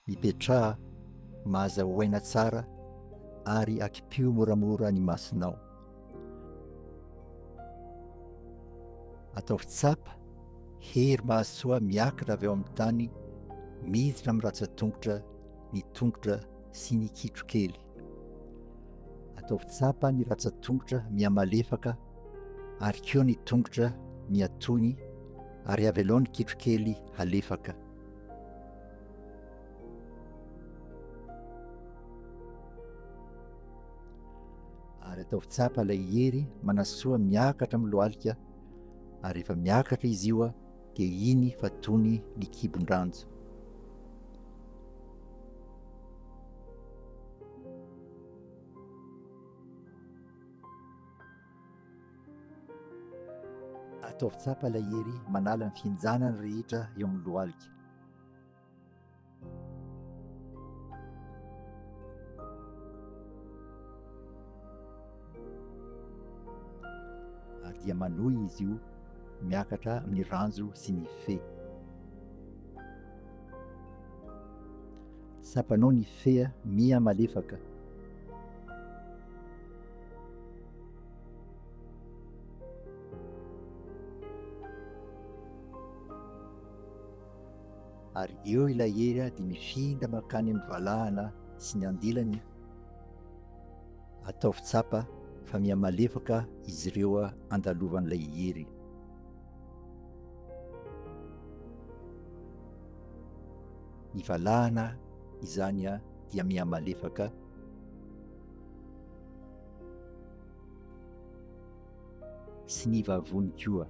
Mipetraha, mahaza ho aina tsara ary akipio moramora ny masonao. Ataovy tsapa, hery mahasoa miakatra avy ao amin'ny tany, miditra amin'ny ratsan-tongotra ny tongotra sy ny kitro kely. Ataovy tsapa ny ratsan-tongotra mihamalefaka ary koa ny tongotra mihatony ary avelao ny kitro kely halefaka. Ary ataovy tsapa ilay hery manasoa miakatra amin'ny lohalika ary rehefa miakatra izy io dia iny fa tony ny kibon-dranjo. Ataovy tsapa ilay hery manala ny fihinjanana rehetra eo amin'ny lohalika. Ary dia manohy izy io miakatra amin'ny ranjo sy ny fe. Tsapanao ny fea miha malefaka. ary eo ilay hery dia mifinda mankany amin'ny valahana sy ny andilany, ataovy tsapa fa mihamalefaka izy ireo andalovan'ilay hery. Ny valahana izany dia mihamalefaka. sy ny vavony koa.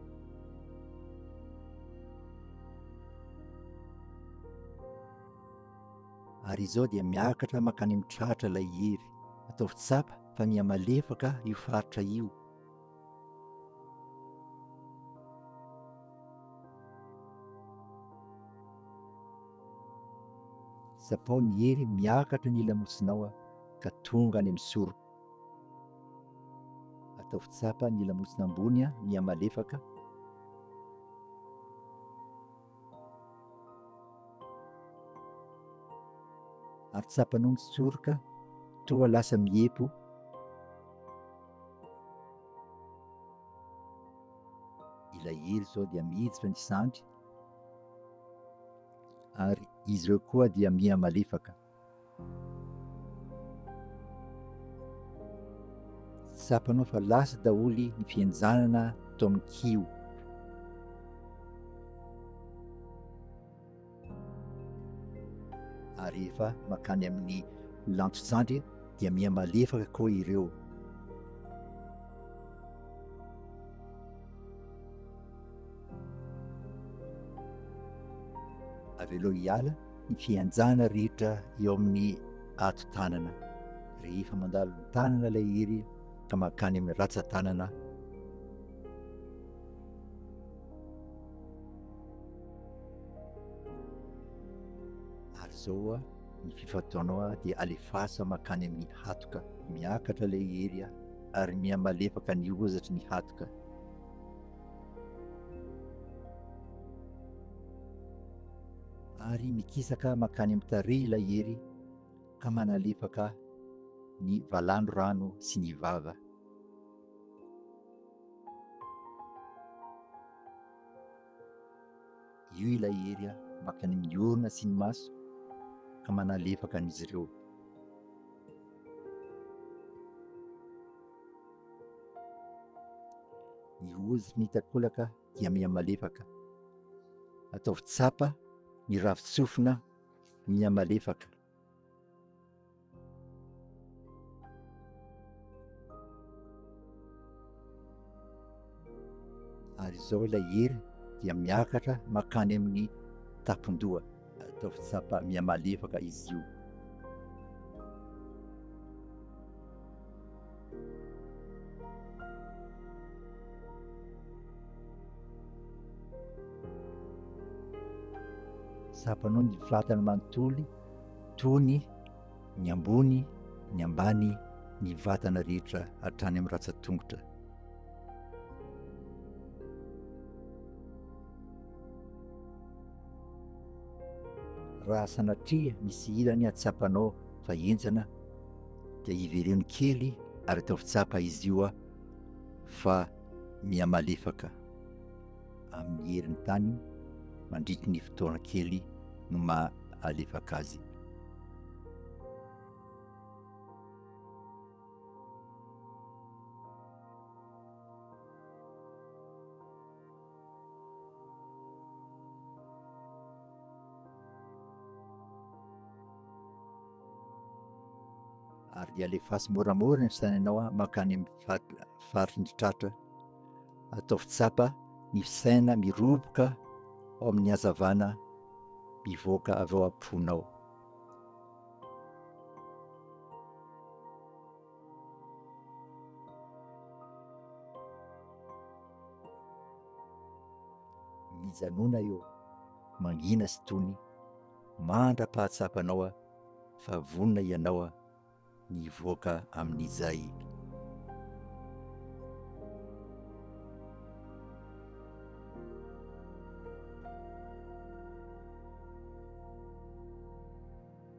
Ary izao dia miakatra mankany amin'ny tratra ilay hery. Ataovy tsapa fa miha malefaka io faritra io. Tsapao ny hery miakatra ny lamosinao ka tonga any amin'ny soroka. Ataovy tsapa ny lamosina ambony mihamalefaka. Ary tsapanao mitsoroka toa lasa miepo. Ilay helo izao dia miditra ny sandry ary izy ireo koa dia mihamalefaka. Tsapanao fa lasa daholo ny fihenjanana tao amin'ny kiho. Ary rehefa makany amin'ny lantotsandry dia miha malefaka koa ireo. Avelao hiala ny fihenjana rehetra eo amin'ny ato-tanana rehefa mandalo ny tanana ilay hery ka mankany amin'ny ratsa-tanana. Ary izao ny fifantohanao dia alefaso mankany amin'ny hatoka, miakatra ilay hery ary mihamalefaka ny hozatry ny hatoka. Ary mikisaka mankany amin'ny tarehy ilay hery ka manalefaka ny valan-drano sy ny vava. Io ilay hery mankany amin'ny orona sy ny maso ka manalefaka an'izy ireo. Ny ozy mitakolaka dia mihamalefaka. Ataovy tsapa ny ravin-tsofina mihamalefaka. Ary izao ilay hery dia miakatra makany amin'ny tapon-doha. Ataovy tsapa mihamalefaka izy io. Tsapanao ny vatana manontolo tony ny ambony, ny ambany, ny vatana rehetra hatrany amin'ny ratsan-tongotra. Raha sanatria misy ilany atsapanao fa henjana dia iveleno kely ary ataovy tsapa izy io fa miha malefaka amin'ny herin'ny tany mandritry ny fotoana kely no maha alefaka azy. ary alefaso moramora ny sainanao mankany amin'ny faritry ny tratra, ataovy tsapa ny saina miroboka ao amin'ny hazavana mivoaka avy ao am-ponao. Mijanona eo, mangina sy tony, mandra-pahatsapanao fa vonona ianao ny hivoaka amin'ny jay.